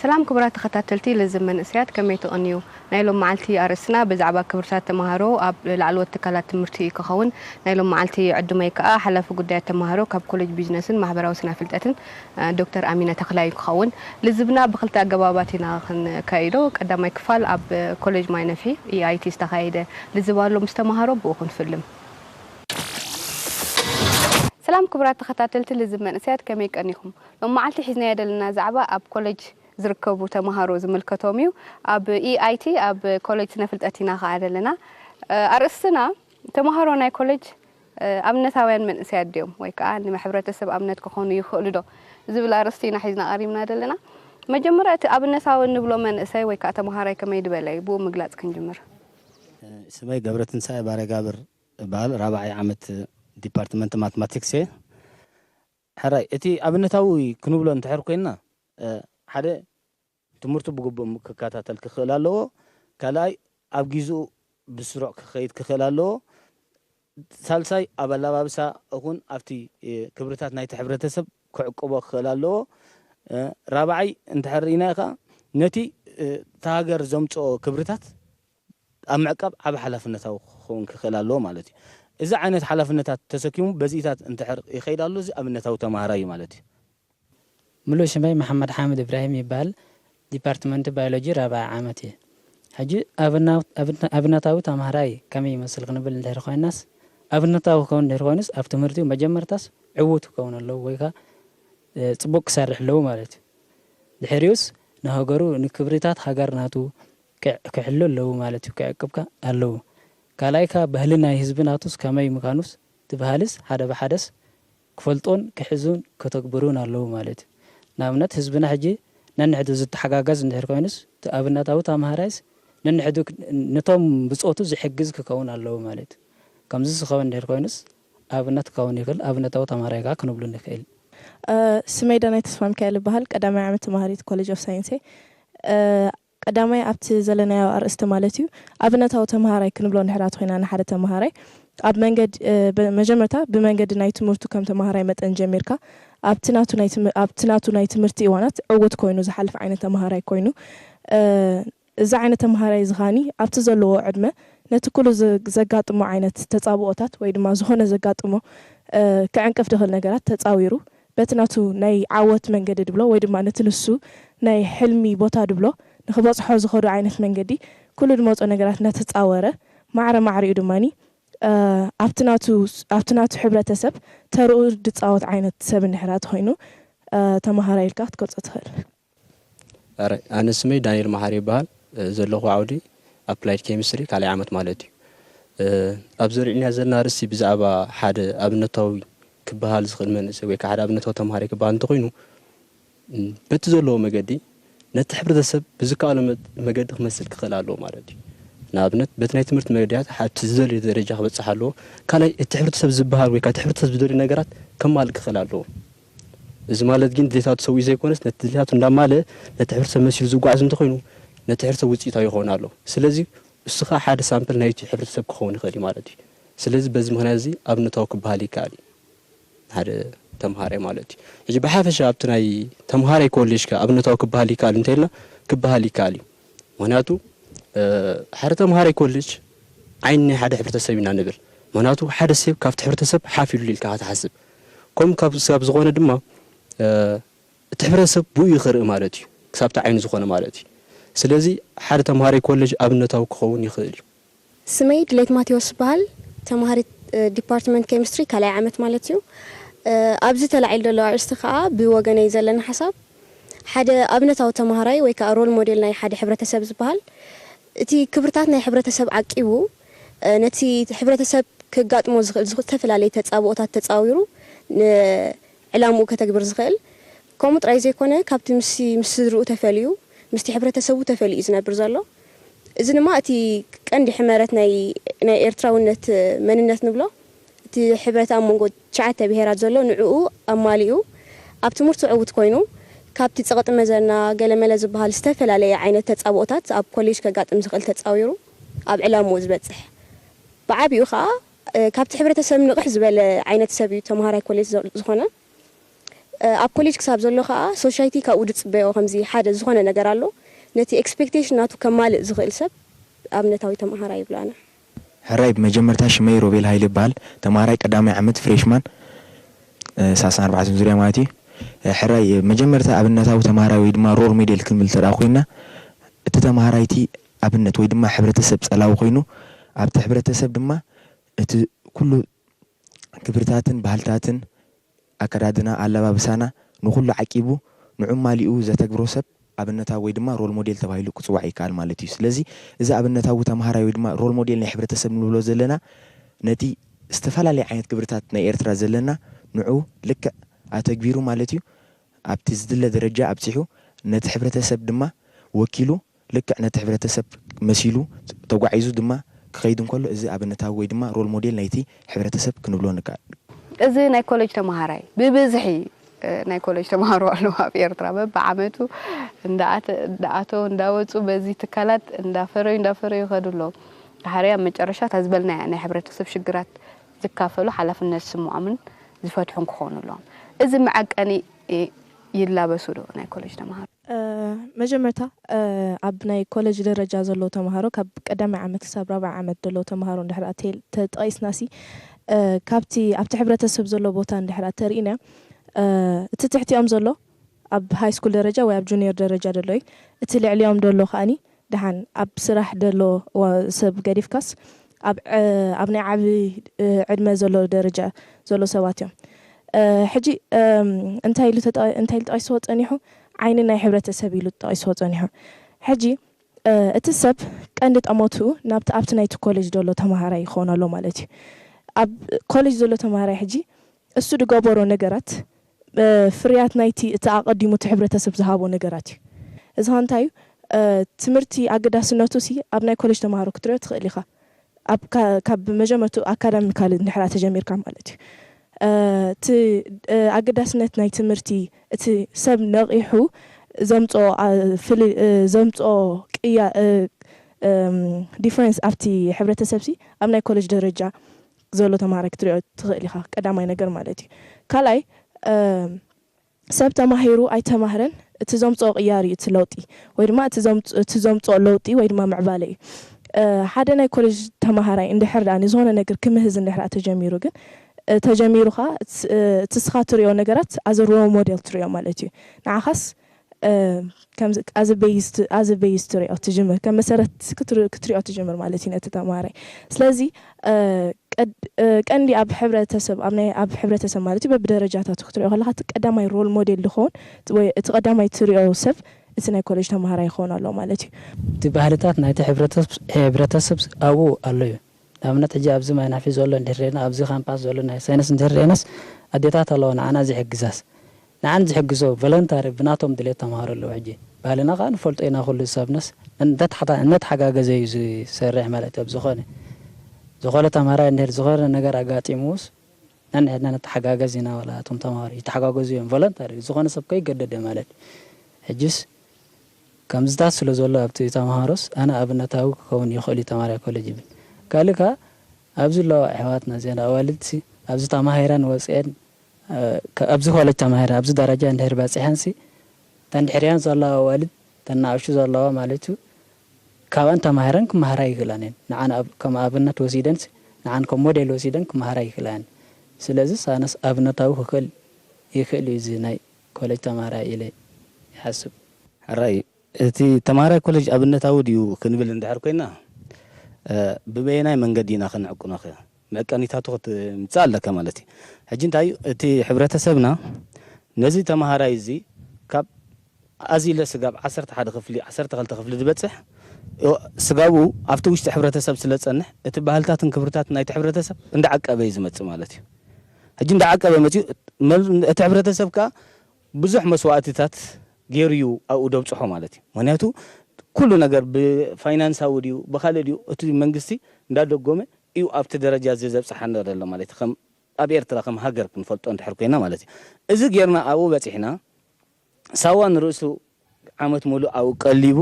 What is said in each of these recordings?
ሰላም ክቡራት ተኸታተልቲ ልዝብ መንእሰያት ከመይ ትቕንዩ? ናይ ሎም መዓልቲ ኣርእስትና ብዛዕባ ክብርታት ተማሃሮ ኣብ ላዕለዎት ትካላት ትምህርቲ እዩ ከኸውን። ናይ ሎም መዓልቲ ዕዱመይ ከኣ ሓላፊ ጉዳያት ተማሃሮ ካብ ኮለጅ ቢዝነስን ማሕበራዊ ስነፍልጠትን ዶክተር ኣሚነ ተኽላይ እዩ ክኸውን። ልዝብና ብክልተ ኣገባባት ኢና ክንካይዶ። ቀዳማይ ክፋል ኣብ ኮለጅ ማይነፍሒ፣ EIT፣ ዝተኻየደ ልዝብ ኣሎ ምስ ተማሃሮ ብኡ ክንፍልም። ሰላም ክቡራት ተኸታተልቲ ልዝብ መንእሰያት ከመይ ቀኒኹም? ሎም መዓልቲ ሒዝናዮ ዘለና ዛዕባ ኣብ ኮለጅ ዝርከቡ ተማሃሮ ዝምልከቶም እዩ። ኣብ EIT ኣብ ኮለጅ ስነ ፍልጠት ኢና ከኣ ዘለና። ኣርእስትና ተማሃሮ ናይ ኮለጅ ኣብነታውያን መንእሰያት ድዮም ወይ ከኣ ንሕብረተሰብ ኣብነት ክኾኑ ይኽእሉዶ ዝብል ኣርእስቲ ኢና ሒዝና ቀሪብና ዘለና። መጀመርያ እቲ ኣብነታዊ እንብሎ መንእሰይ ወይ ከኣ ተማሃራይ ከመይ ድበለ እዩ ብኡ ምግላጽ ክንጅምር። ስመይ ገብረትንሳኤ ባረጋብር እባል ራብዓይ ዓመት ዲፓርትመንት ማትማቲክስ እየ። ሕራይ እቲ ኣብነታዊ ክንብሎ እንድሕር ኮይንና ሓደ ትምህርቱ ብግቡእ ክከታተል ክኽእል ኣለዎ፣ ካልኣይ ኣብ ጊዝኡ ብስሩዕ ክኸይድ ክኽእል ኣለዎ፣ ሳልሳይ ኣብ ኣላባብሳ እኹን ኣብቲ ክብርታት ናይቲ ሕብረተሰብ ክዕቅቦ ክኽእል ኣለዎ፣ ራብዓይ እንድሕር ርኢናዮ ከኣ ነቲ እታ ሃገር ዘምጽኦ ክብርታት፣ ኣብ ምዕቃብ ዓቢ ሓላፍነታዊ ክኸውን ክኽእል ኣለዎ ማለት እዩ። እዚ ዓይነት ሓላፍነታት ተሰኪሙ በዚታት እንተሕር ይኸይድ ኣሎ እዚ ኣብነታዊ ተማሃራይ እዩ ማለት እዩ። ምሉእ ሽመይ መሓመድሓምድ እብራሂም ይበሃል ዲፓርትመንት ባዮሎጂ ራብዓይ ዓመት እየ ሕጂ ኣብና ኣብነታዊ ተማሃራይ ከመይ ይመስል ክንብል እንድሕር ኮይናስ ኣብነታዊ ክኸውን እንድሕር ኮይኑስ ኣብ ትምህርቲኡ መጀመርታስ ዕዉት ክከውን ኣለዎ ወይ ከኣ ጽቡቅ ክሰርሕ ኣለዎ ማለት እዩ ድሕሪኡስ ንሃገሩ ንክብሪታት ሃገር ናቱ ክዕ ክሕሉ ኣለዉ ማለት እዩ ክዕቅብካ ኣለዉ ካልኣይ ካኣ ባህሊ ናይ ህዝቢ ናቱስ ከመይ ምካኑስ ትብሃልስ ሓደ ብሓደስ ክፈልጡን ክሕዙን ከተግብሩን ኣለዉ ማለት እዩ ንኣብነት ህዝብና ሕጂ ነንሕዱ ዝትሓጋገዝ እንድሕር ኮይኑስ እቲ ኣብነታዊ ታምሃራይስ ነንሕዱ ንቶም ብጾቱ ዝሕግዝ ክከውን ኣለዉ ማለት እዩ ከምዚ ዝከውን እንድሕር ኮይኑስ ኣብነት ክከውን ይክል ኣብነታዊ ታምሃራይ ካኣ ክንብሉ ንክእል። ስመይ ዳናይት ተስፋሚካኤል እባሃል ቀዳማይ ዓመት ተማሃሪት ኮለጅ ኦፍ ሳይንስ እየ። ቀዳማይ ኣብቲ ዘለናዮ ኣርእስቲ ማለት'ዩ ኣብነታዊ ተመሃራይ ክንብሎ እንድሕር ኣቲ ኮይና ንሓደ ተመሃራይ ኣብ መንገድ መጀመርታ ብመንገዲ ናይ ትምህርቱ ከም ተመሃራይ መጠን ጀሚርካ ኣብቲ ናቱ ናይ ኣብቲ ናቱ ናይ ትምህርቲ እዋናት ዕውት ኮይኑ ዝሓልፍ ዓይነት ተመሃራይ ኮይኑ እዚ ዓይነት ተመሃራይ እዚ ከኣኒ ኣብቲ ዘለዎ ዕድመ ነቲ ኩሉ ዘጋጥሞ ዓይነት ተጻብኦታት ወይ ድማ ዝኾነ ዘጋጥሞ ክዕንቅፍ ድኽእል ነገራት ተጻዊሩ በቲ ናቱ ናይ ዓወት መንገዲ ድብሎ ወይ ድማ ነቲ ንሱ ናይ ሕልሚ ቦታ ድብሎ ንክበጽሖ ዝኸዶ ዓይነት መንገዲ ኩሉ ድመጾ ነገራት እናተጻወረ ማዕረ ማዕሪኡ ድማ ኣብቲ ናቱ ኣብቲ ናቱ ሕብረተሰብ ተርኡ ድጻወት ዓይነት ሰብ እንድሕራ ተኾይኑ ተማሃራይ ኢልካ ክትገልጾ ትኽእል። ኣረ ኣነ ስመይ ዳንኤል መሓሪ ይበሃል ዘለኹ ዓውዲ ኣፕላይድ ኬሚስትሪ ካልኣይ ዓመት ማለት እዩ ኣብ ዘሪዕና ዘለና ርስቲ ብዛዕባ ሓደ ኣብነታዊ ክበሃል ዝኽእል መንእሰይ ወይ ከዓ ሓደ ኣብነታዊ ተምሃሪ ክበሃል እንተኾይኑ በቲ ዘለዎ መገዲ ነቲ ሕብረተሰብ ብዝከኣሎ መገዲ ክመስል ክኽእል ኣለዎ ማለት እዩ ንኣብነት በቲ ናይ ትምህርቲ መገድያት ሓብቲ ዝደልዩ ደረጃ ክበፅሕ ኣለዎ ካልኣይ እቲ ሕብረተሰብ ዝበሃል ወይ ከዓ እቲ ሕብረተሰብ ዝደልዩ ነገራት ከማልእ ክኽእል ኣለዎ እዚ ማለት ግን ድሌታቱ ሰዊኡ ዘይኮነስ ነቲ ድሌታቱ እንዳማለእ ነቲ ሕብረተሰብ መሲሉ ዝጓዓዝ እንተኾይኑ ነቲ ሕብረተሰብ ውጽኢታዊ ይኸውን ኣሎ። ስለዚ እሱ ከኣ ሓደ ሳምፕል ናይቲ ሕብረተሰብ ክኸውን ይኽእል እዩ ማለት እዩ። ስለዚ በዚ ምኽንያት እዚ ኣብነታዊ ክበሃል ይከኣል እዩ ንሓደ ተምሃራይ ማለት እዩ። ሕጂ ብሓፈሻ ኣብቲ ናይ ተምሃራይ ኮሌጅ ከ ኣብነታዊ ክበሃል ይከኣል እንተኢልና ክበሃል ይከኣል እዩ። ምኽንያቱ ሓደ ተምሃራይ ኮሌጅ ዓይኒ ናይ ሓደ ሕብረተሰብ ኢና ንብል። ምኽንያቱ ሓደ ሰብ ካብቲ ሕብረተሰብ ሓፍ ኢሉ ኢልካ ኢኻ ትሓስብ። ከምኡ ክሳብ ዝኾነ ድማ እቲ ሕብረተሰብ ብኡ እዩ ክርኢ ማለት እዩ፣ ክሳብ እቲ ዓይኑ ዝኾነ ማለት እዩ። ስለዚ ሓደ ተምሃራይ ኮለጅ ኣብነታዊ ክኸውን ይኽእል እዩ። ስመይ ድሌት ማቴዎስ እበሃል። ተምሃሪት ዲፓርትመንት ኬሚስትሪ ካልኣይ ዓመት ማለት እዩ። ኣብዚ ተላዒሉ ዘሎ ኣርእስቲ ከኣ ብወገነይ ዘለኒ ሓሳብ ሓደ ኣብነታዊ ተምሃራይ ወይ ከኣ ሮል ሞዴል ናይ ሓደ ሕብረተሰብ ዝበሃል፣ እቲ ክብርታት ናይ ሕብረተሰብ ዓቂቡ፣ ነቲ ሕብረተሰብ ከጋጥሞ ዝኽእል ዝተፈላለየ ተጻብኦታት ተጻዊሩ ንዕላምኡ ከተግብር ዝኽእል፣ ከምኡ ጥራይ ዘይኮነ ካብቲ ምስ ምስ ስድርኡ ተፈልዩ፣ ምስቲ ሕብረተሰቡ ተፈልዩ እዩ ዝነብር ዘሎ። እዚ ድማ እቲ ቀንዲ ሕመረት ናይ ናይ ኤርትራውነት መንነት ንብሎ። እቲ ሕብረት ኣብ መንጎ ትሽዓተ ብሄራት ዘሎ ንዕኡ ኣማሊኡ ኣብ ትምህርቱ ዕውት ኮይኑ ካብቲ ጸቕጢ መዘና ገለመለ ዝበሃል ዝተፈላለየ ዓይነት ተጻብኦታት ኣብ ኮሌጅ ከጋጥም ዝኽእል ተጻዊሩ ኣብ ዕላምኡ ዝበጽሕ ብዓቢኡ ከኣ ካብቲ ሕብረተሰብ ንቕሕ ዝበለ ዓይነት ሰብ እዩ ተመሃራይ ኮሌጅ ዝኾነ ኣብ ኮሌጅ ክሳብ ዘሎ ከኣ ሶሻይቲ ካብኡ ዝጽበዮ ከምዚ ሓደ ዝኾነ ነገር ኣሎ ነቲ ኤክስፔክቴሽን ናቱ ከማልእ ዝኽእል ሰብ ኣብነታዊ ተመሃራይ ይብሎ ኣነ ሕራይ ብመጀመርታ ሽመይ ሮቤል ሃይለ ይበሃል ተማሃራይ ቀዳማይ ዓመት ፍሬሽማን ሰላሳን ኣርባዕተን ዙርያ ማለት እዩ ሕራይ ብመጀመርታ ኣብነታዊ ተማሃራይ ወይ ድማ ሮል ሜዴል ክንብል እንተድኣ ኮይና እቲ ተማሃራይ እቲ ኣብነት ወይ ድማ ሕብረተሰብ ጸላዊ ኮይኑ ኣብቲ ሕብረተሰብ ድማ እቲ ኩሉ ክብርታትን ባህልታትን ኣከዳድና፣ ኣላባብሳና፣ ንኹሉ ዓቂቡ ንዑማሊኡ ዘተግብሮ ሰብ ኣብነታዊ ወይ ድማ ሮል ሞዴል ተባሂሉ ክጽዋዕ ይከኣል ማለት እዩ። ስለዚ እዚ ኣብነታዊ ተማሃራይ ወይ ድማ ሮል ሞዴል ናይ ሕብረተሰብ ንብሎ ዘለና ነቲ ዝተፈላለየ ዓይነት ግብርታት ናይ ኤርትራ ዘለና ንዑ ልክዕ ኣተግቢሩ ማለት እዩ ኣብቲ ዝድለ ደረጃ ኣብጺሑ ነቲ ሕብረተሰብ ድማ ወኪሉ ልክዕ ነቲ ሕብረተሰብ መሲሉ ተጓዒዙ ድማ ክኸይድ እንከሎ እዚ ኣብነታዊ ወይ ድማ ሮል ሞዴል ናይቲ ሕብረተሰብ ክንብሎ ንከኣል። እዚ ናይ ኮለጅ ተመሃራይ ብብዝሒ ናይ ኮለጅ ተመሃሮ ኣለዉ ኣብ ኤርትራ በብዓመቱ እንዳኣተዉ እንዳወጹ በዚ ትካላት እንዳፈረዩ እንዳፈረዩ ይኸዱ ኣለዉ ድሓረይ ኣብ መጨረሻ እታ ዝበልናያ ናይ ሕብረተሰብ ሽግራት ዝካፈሉ ሓላፍነት ዝስምዖምን ዝፈትሑን ክኾኑ ኣለዎም እዚ መዐቀኒ ይላበሱ ዶ ናይ ኮለጅ ተመሃሮ? መጀመርታ ኣብ ናይ ኮለጅ ደረጃ ዘለዉ ተምሃሮ ካብ ቀዳማይ ዓመት ክሳብ ራብዓይ ዓመት ደለዉ ተምሃሮ እንድሕር ኣቴል ተጠቂስናሲ ካብቲ ኣብቲ ሕብረተሰብ ዘሎ ቦታ እንድሕር ኣተሪኢና እቲ ትሕቲኦም ዘሎ ኣብ ሃይስኩል ደረጃ ወይ ኣብ ጁንየር ደረጃ ደሎ እዩ እቲ ልዕሊኦም ደሎ ከኣኒ ደሓን ኣብ ስራሕ ደሎ ሰብ ገዲፍካስ ኣብ ኣብ ናይ ዓቢ ዕድመ ዘሎ ደረጃ ዘሎ ሰባት እዮም ሕጂ እንታይ ኢሉ እንታይ ኢሉ ጠቂስዎ ጸኒሑ ዓይኒ ናይ ሕብረተሰብ ኢሉ ጠቂስዎ ጸኒሑ ሕጂ እቲ ሰብ ቀንዲ ጠመትኡ ናብቲ ኣብቲ ናይቲ ኮለጅ ደሎ ተማሃራይ ይኾን ኣሎ ማለት እዩ ኣብ ኮለጅ ዘሎ ተማሃራይ ሕጂ እሱ ድገበሮ ነገራት ፍርያት ናይቲ እቲ ኣቐዲሙ እቲ ሕብረተሰብ ዝሃቦ ነገራት እዩ። እዚ ኸኣ እንታይ እዩ? ትምህርቲ ኣገዳስነቱሲ ኣብ ናይ ኮለጅ ተመሃሮ ክትርእዮ ትኽእል ኢኻ። ኣብ ካብ መጀመርትኡ ኣካዳሚካሊ እንድሕር ተጀሚርካ ማለት እዩ። እቲ ኣገዳስነት ናይ ትምህርቲ እቲ ሰብ ነቒሑ ዘምጽኦ ፍል ዘምጽኦ ቅያ ዲፍረንስ ኣብቲ ሕብረተሰብሲ ኣብ ናይ ኮለጅ ደረጃ ዘሎ ተማሃራይ ክትሪኦ ትኽእል ኢኻ ቀዳማይ ነገር ማለት እዩ ካልኣይ ሰብ ተማሂሩ ኣይተማህረን እቲ ዘምጽኦ ቅያር እዩ እቲ ለውጢ ወይ ድማ እቲ እቲ ዘምጽኦ ለውጢ ወይ ድማ ምዕባለ እዩ ሓደ ናይ ኮሌጅ ተማሃራይ እንድሕር ድኣ ንዝኾነ ነገር ክምህዝ እንድሕር ድኣ ተጀሚሩ ግን ተጀሚሩ ኸኣ እቲ እስኻ ትሪኦ ነገራት as a role model ትሪኦ ማለት እዩ ንዓኻስ ከምዚ ኣዘ ቤይዝት ኣዘ ቤይዝ ትሪኦ ትጅምር ከም መሰረት ክትር ክትሪኦ ትጅምር ማለት እዩ ነቲ ተማሃራይ ስለዚ እ ቀድ እ ቀንዲ ኣብ ሕብረተሰብ ኣብ ናይ ኣብ ሕብረተሰብ ማለት እዩ በብደረጃታቱ ክትሪኦ ከለካ እቲ ቀዳማይ ሮል ሞዴል ዝከውን ወይ እቲ ቀዳማይ ትሪኦ ሰብ እቲ ናይ ኮለጅ ተማሃራይ ክከውን ኣለዎ ማለት እዩ። እቲ ባህልታት ናይቲ ሕብረተስብ ሕብረተስብ ኣብኡ ኣሎ እዩ። ንኣብነት ሕጂ ኣብዚ ማይናፊ ዘሎ እንድህር ሪእና ኣብዚ ካምፓስ ዘሎ ናይ ሳይነስ እንድህር ሪእናስ ኣዴታት ኣለዋ ንዓና ዝሕግዛስ ንዓን ዝሕግዞ ቮለንታሪ ብናቶም ድሌት ተማሃሮ ኣለዉ ሕጂ ባህልና ከኣ ንፈልጦ ኢና ኩሉ ሰብናስ እናተሓጋገዘ እዩ ዝሰርሕ ማለት እዩ ኣብዝኮነ ዝኮነ ተማሃራይ እንድህር ዝኮነ ነገር ኣጋጢምዉስ ነንሕድና ንተሓጋገዝ ኢና ዋላ እቶም ተማሃሮ ይተሓጋገዙ እዮም ቮለንታሪ ዝኮነ ሰብ ከይገደደ ማለት እዩ ሕጂስ ከምዚታት ስለዘሎ ኣብቲ ተመሃሮስ ኣነ ኣብነታዊ ክከውን ይክእል እዩ ተማሃራይ ኮለጅ ይብል ካልእ ከኣ ኣብዚ ኣለዋ ኣሕዋትና እዚኣን ኣዋልድሲ ኣብዚ ተማሂረን ወጺኤን ኣብዚ ኮለጅ ተማሂረን ኣብዚ ደረጃ እንድህር በጺሐንሲ እተን ድሕሪኣን ዘለዋ ኣዋልድ እተን ንኣሽቱ ዘለዋ ማለት እዩ ካብኣን ተማሂረን ክመሃራ ይክእላን እየን ንዓን ከም ኣብነት ወሲደንሲ ንዓን ከም ሞዴል ወሲደን ክመሃራ ይክእላ እየን ስለዚስ ኣነስ ኣብነታዊ ክክእል ይክእል እዩ እዚ ናይ ኮለጅ ተማሃራይ ኢለ ይሓስብ። ሕራይ እቲ ተማሃራይ ኮለጅ ኣብነታዊ ድዩ ክንብል እንድሕር ኮይና፣ ብበየናይ መንገዲ ኢና ክንዕቅኖ'ኸ? መዕቀኒታቱ ክትምጽእ ኣለካ ማለት እዩ። ሕጂ እንታይ እዩ እቲ ሕብረተሰብና ነዚ ተማሃራይ እዚ ካብ ኣዚለ ስጋብ ዓሰርተ ሓደ ክፍሊ፣ ዓሰርተ ክልተ ክፍሊ ዝበጽሕ ስጋቡ ኣብቲ ውሽጢ ሕብረተሰብ ስለ ዝጸንሕ፣ እቲ ባህልታትን ክብርታትን ናይቲ ሕብረተሰብ እንዳዓቀበ እዩ ዝመጽእ ማለት እዩ። ሕጂ እንዳዓቀበ መጺኡ እቲ ሕብረተሰብ ከኣ ብዙሕ መስዋእቲታት ጌሩ እዩ ኣብኡ ደብጽሖ ማለት እዩ ምክንያቱ ኩሉ ነገር ብፋይናንሳዊ ድዩ ብካልእ ድዩ እቲ መንግስቲ እንዳደጎመ እዩ ኣብቲ ደረጃ እዚ ዘብጽሓና ዘሎ ማለት እዩ ከም ኣብ ኤርትራ ከም ሃገር ክንፈልጦ እንድሕር ኮይና ማለት እዩ እዚ ጌርና ኣብኡ በጺሕና ሳዋ ንርእሱ ዓመት ሙሉእ ኣብኡ ቀሊቡ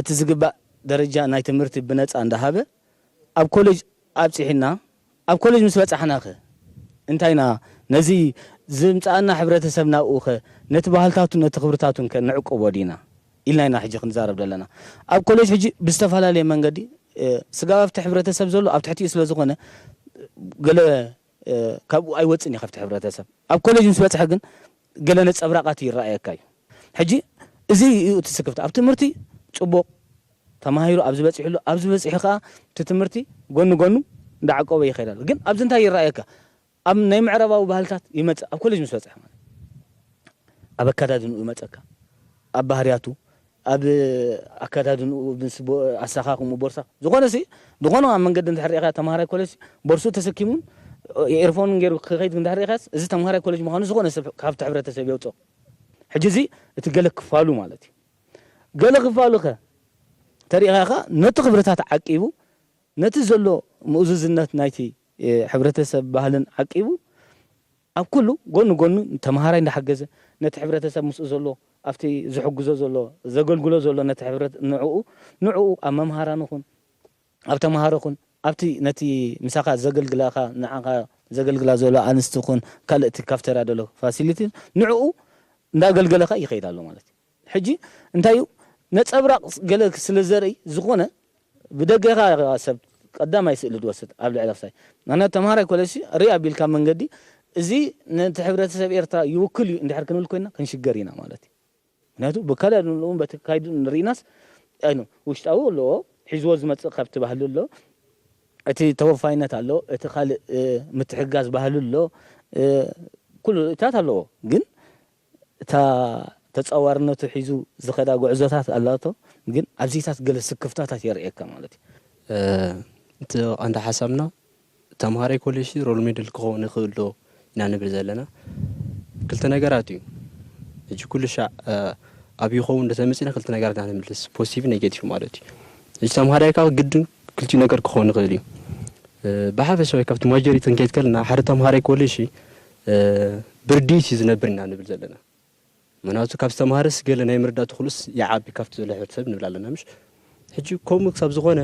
እቲ ዝግባእ ደረጃ ናይ ትምህርቲ ብነጻ እንዳሃበ ኣብ ኮለጅ ኣብጺሑና ኣብ ኮለጅ ምስ በጻሕናኸ እንታይ ኢና ነዚ ዝምጻኣና ሕብረተሰብን ኣብኡኸ ነቲ ባህልታቱን ነቲ ክብርታቱንከ ንዕቁቦ ዲና ኢልና ኢና ሕጂ ክንዛረብ ዘለና ኣብ ኮለጅ ሕጂ ብዝተፈላለየ መንገዲ ስጋብ ኣብቲ ሕብረተሰብ ዘሎ ኣብ ትሕቲኡ ስለዝኾነ ገለ ካብኡ ኣይወጽእን እዩ ካብቲ ሕብረተሰብ። ኣብ ኮለጅ ምስ በጽሐ ግን ገለ ነጸብራቓት ይረኣየካ እዩ። ሕጂ እዚ እዩ እቲ ስክፍታ። ኣብ ትምህርቲ ጽቡቕ ተማሂሩ ኣብዚ በጺሑ ኣሎ፣ ኣብዚ በጺሑ ከኣ እቲ ትምህርቲ ጎኒ ጎኑ እንዳዓቆበ ይኸይድ ኣሎ። ግን ኣብዚ እንታይ ይረኣየካ ኣብ ናይ ምዕራባዊ ባህልታት ይመጽእ ኣብ ኮለጅ ምስ በጽሐ ማለት እዩ። ኣብ ኣከዳድንኡ ይመጸካ፣ ኣብ ባህርያቱ፣ ኣብ ኣከዳድንኡ ምስ ኣሰካክምኡ ቦርሳ ዝኮነ ሲ ዝኮነ ኣብ መንገዲ እንድሕር ሪኢካዮ ተማሃራይ ኮለጅ ሲ ቦርስኡ ተሰኪሙን ኤርፎኑን ጌሩ ክከይድ እንድሕር ሪኢካዮስ እዚ ተማሃራይ ኮለጅ ምካኑ ዝኮነ ሰብ ካብቲ ሕብረተሰብ የውጽኦ ሕጂ እዚ እቲ ገለ ክፋሉ ማለት እዩ ገለ ክፋሉ ከ ተሪኢካዮ ከኣ ነቲ ክብርታት ዓቂቡ ነቲ ዘሎ ምኡዝዝነት ናይቲ ሕብረተሰብ ባህልን ዓቂቡ ኣብ ኩሉ ጎኑ ጎኑ ንተመሃራይ እንዳሓገዘ ነቲ ሕብረተሰብ ምስኡ ዘሎ ኣብቲ ዝሕግዞ ዘሎ ዘገልግሎ ዘሎ ነቲ ሕብረት ንዕኡ ንዕኡ ኣብ መምሃራኑ ኩን ኣብ ተመሃሮ ኩን ኣብቲ ነቲ ምሳኻ ዘገልግላኻ ንዓኻ ዘገልግላ ዘሎ ኣንስቲ ኩን ካልእ እቲ ካፍተርያ ዘሎ ፋሲሊቲ ንዕኡ እንዳገልገለኻ ይኸይድ ኣሎ ማለት እዩ። ሕጂ እንታይ እዩ ነጸብራቅ ገለ ስለ ዘርእይ ዝኮነ ብደገ ኢካ ኢካ ሰብ ቀዳማይ ስእሊ ትወስድ ኣብ ልዕሊ ክሳይ ምክንያቱ ተማሃራይ ኮለጅሲ ርእ ኣቢልካ መንገዲ እዚ ነቲ ሕብረተሰብ ኤርትራ ይውክል እዩ እንድሕር ክንብል ኮይና ክንሽገር ኢና ማለት እዩ ምክንያቱ ብከለሉን በቲ ካይዱ ንርኢናስ ኣይኑ ውሽጣዊ ኣለዎ ሒዝዎ ዝመጽእ ካብቲ ባህሊ ኣሎ እቲ ተወፋይነት ኣሎ እቲ ካልእ ምትሕጋዝ ባህሊ ኣሎ ኩሉ ርኢታት ኣለዎ ግን እታ ተጻዋርነቱ ሒዙ ዝኸዳ ጉዕዞታት ኣላቶ ግን ኣብዚታት ገለ ስክፍታታት የርእየካ ማለት እዩ። እቲ ቀንዲ ሓሳብና ተምሃራይ ኮሌጅ ሮል ሜደል ክኸውን ይኽእል ዶ ኢና ንብል ዘለና ክልተ ነገራት እዩ ሕጂ ኩልሻዕ ኣብ ይኸውን ዶ ተመጺና ክልተ ነገራት ኢና ንምልስ ፖዚቲቭ ኔጌቲቭ ማለት እዩ ሕጂ ተምሃራይ ካብ ግድን ክልቲኡ ነገር ክኸውን ይኽእል እዩ ብሓፈሻዊ ካብቲ ማጆሪቲ ክንከይድ ከለና ሓደ ተምሃራይ ኮሌጅ ብርድኢት እዩ ዝነብር ኢና ንብል ዘለና ምክንያቱ ካብ ዝተማሃረስ ገለ ናይ ምርዳእ ትክሉስ ይዓቢ ካብቲ ዘሎ ሕብረተሰብ ንብል ኣለና ምሽ ሕጂ ከምኡ ክሳብ ዝኾነ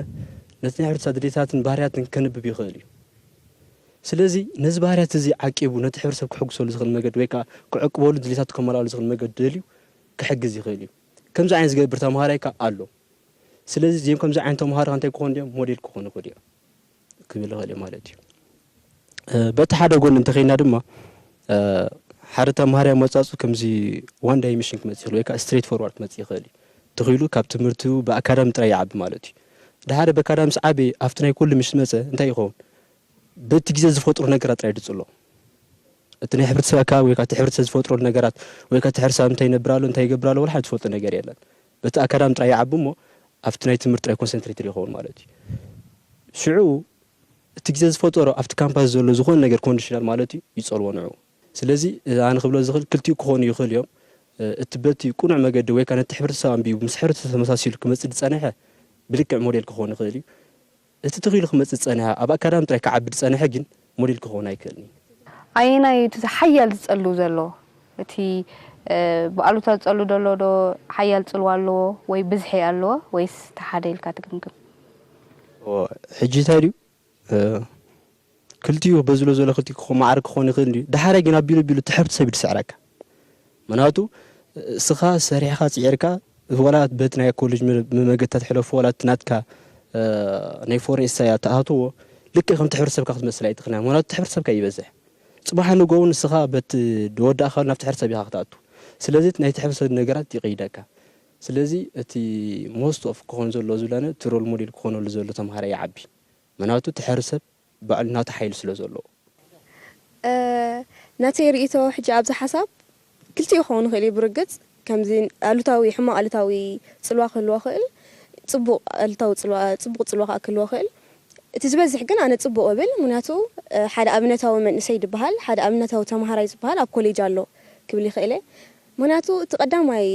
ነቲ ናይ ሕብረተሰብ ድሌታትን ባህርያትን ከንብብ ይኽእል እዩ ስለዚ ነዚ ባህርያት እዚ ዓቂቡ ነቲ ሕብረተሰብ ክሕግሰሉ ዝኽእል መገዲ ወይ ከዓ ክዕቅበሉ ድሌታቱ ከመላሉ ዝኽእል መገዲ ደልዩ ክሕግዝ ይኽእል እዩ ከምዚ ዓይነት ዝገብር ተምሃራይ ከዓ ኣሎ ስለዚ እዚኦም ከምዚ ዓይነት ተምሃሮ እንታይ ክኾኑ እዮም ሞዴል ክኾኑ ይኽእሉ እዮም ክብል ይኽእል እየ ማለት እዩ። በቲ ሓደ ጎኒ እንተኸይና ድማ ሓደ ተምሃሪ ኣመጻጹ ከምዚ ዋን ዳይሜሽን ክመጽእ ይኽእል ወይ ከዓ ስትሬት ፎርዋርድ ክመጽእ ይኽእል እዩ ተኺሉ ካብ ትምህርቱ ብኣካዳሚ ጥራይ ይዓቢ ማለት እዩ ድሓደ በኣካዳሚ ምስ ዓበየ ኣብቲ ናይ ኩሉ ምስ መጸ እንታይ ይኸውን በቲ ግዜ ዝፈጥሩ ነገራት ጥራይ ድጽሎ እቲ ናይ ሕብረተሰብ ኣከባቢ ወይ እቲ ሕብረተሰብ ዝፈጥረሉ ነገራት ወይ እቲ ሕብረተሰብ እንታይ ይነብር ኣሎ እንታይ ይገብር ኣሎ ወላ ሓደ ዝፈልጦ ነገር የለን በቲ ኣካዳሚ ጥራይ ይዓቢ እሞ ኣብቲ ናይ ትምህርቲ ጥራይ ኮንሰንትሬትድ ይኸውን ማለት እዩ። ሽዑ እቲ ግዜ ዝፈጠሮ ኣብቲ ካምፓስ ዘሎ ዝኾነ ነገር ኮንዲሽናል ማለት እዩ ይጸልዎ ንዕኡ። ስለዚ ኣነ ክብሎ ዝኽእል ክልቲኡ ክኾኑ ይኽእሉ እዮም። እቲ በቲ ቅኑዕ መገዲ ወይ ከኣ ነቲ ሕብረተሰብ ኣንቢቡ ምስ ሕብረተሰብ ተመሳሲሉ ክመጽእ ዝጸንሐ ብልክዕ ሞዴል ክኸውን ይኽእል እዩ። እቲ ትኽ ኢሉ ክመጽእ ዝጸንሐ ኣብ ኣካዳሚ ጥራይ ክዓቢ ዝጸንሐ ግን ሞዴል ክኸውን ኣይክእልን እዩ። ኣየናይ እዩ እቲ ዝሓያል ዝጸሉ ዘሎ? እቲ ብኣሉታ ዝጸሉ ዘሎ ዶ ሓያል ጽልዋ ኣለዎ ወይ ብዝሒ ኣለዎ ወይስ እቲ ሓደ ኢልካ ትግምግም? ሕጂ እንታይ ድዩ ክልቲኡ በዝሎ ዘሎ ክልቲክኹ ማዕረ ክኾን ይኽእል እንድዩ ዳሓራይ ግን ኣቢሉ ኣቢሉ ትሕብቲ ሰብ እዩ ድስዕረካ ምክንያቱ እስኻ ሰሪሕኻ ጺዒርካ ወላ በቲ ናይ ኮሌጅ መመገታ ትሕለፎ ወላ እቲ ናትካ ናይ ፎሬን ኢሳያ ትኣትዎ ልክዕ ከምቲ ሕብረተሰብካ ክትመስል ኣይትኽእልን ኢኻ ምክንያቱ እቲ ሕብረተሰብካ ይበዝሕ ጽባሕ ንግሆ እውን ንስኻ በቲ ወዳእካ ናብቲ ሕብረተሰብ ኢኻ ክትኣቱ ስለዚ እቲ ናይቲ ሕብረተሰብ ነገራት ይቕይደካ ስለዚ እቲ ሞስት ኦፍ ክኾን ዘለዎ ዝብላነ እቲ ሮል ሞዴል ክኾነሉ ዘሎ ተምሃራይ ይዓቢ ምናቱ እቲ ሐር ሰብ ባዕሉ ናቱ ሓይሊ ስለ ዘለዎ። ናተይ ሪኢቶ ሕጂ ኣብዚ ሓሳብ ክልቲኡ ክኸውን ይኽእል እዩ ብርግጽ ከምዚ ኣሉታዊ ሕማቕ ኣሉታዊ ጽልዋ ክህልዎ ይኽእል ጽቡቕ ኣሉታዊ ጽልዋ ጽቡቕ ጽልዋ ከኣ ክህልዎ ይኽእል እቲ ዝበዝሕ ግን ኣነ ጽቡቕ እብል ምክንያቱ ሓደ ኣብነታዊ መንእሰይ ድበሃል ሓደ ኣብነታዊ ተማሃራይ ዝበሃል ኣብ ኮሌጅ ኣሎ ክብል ይኽእል እየ ምክንያቱ እቲ ቀዳማይ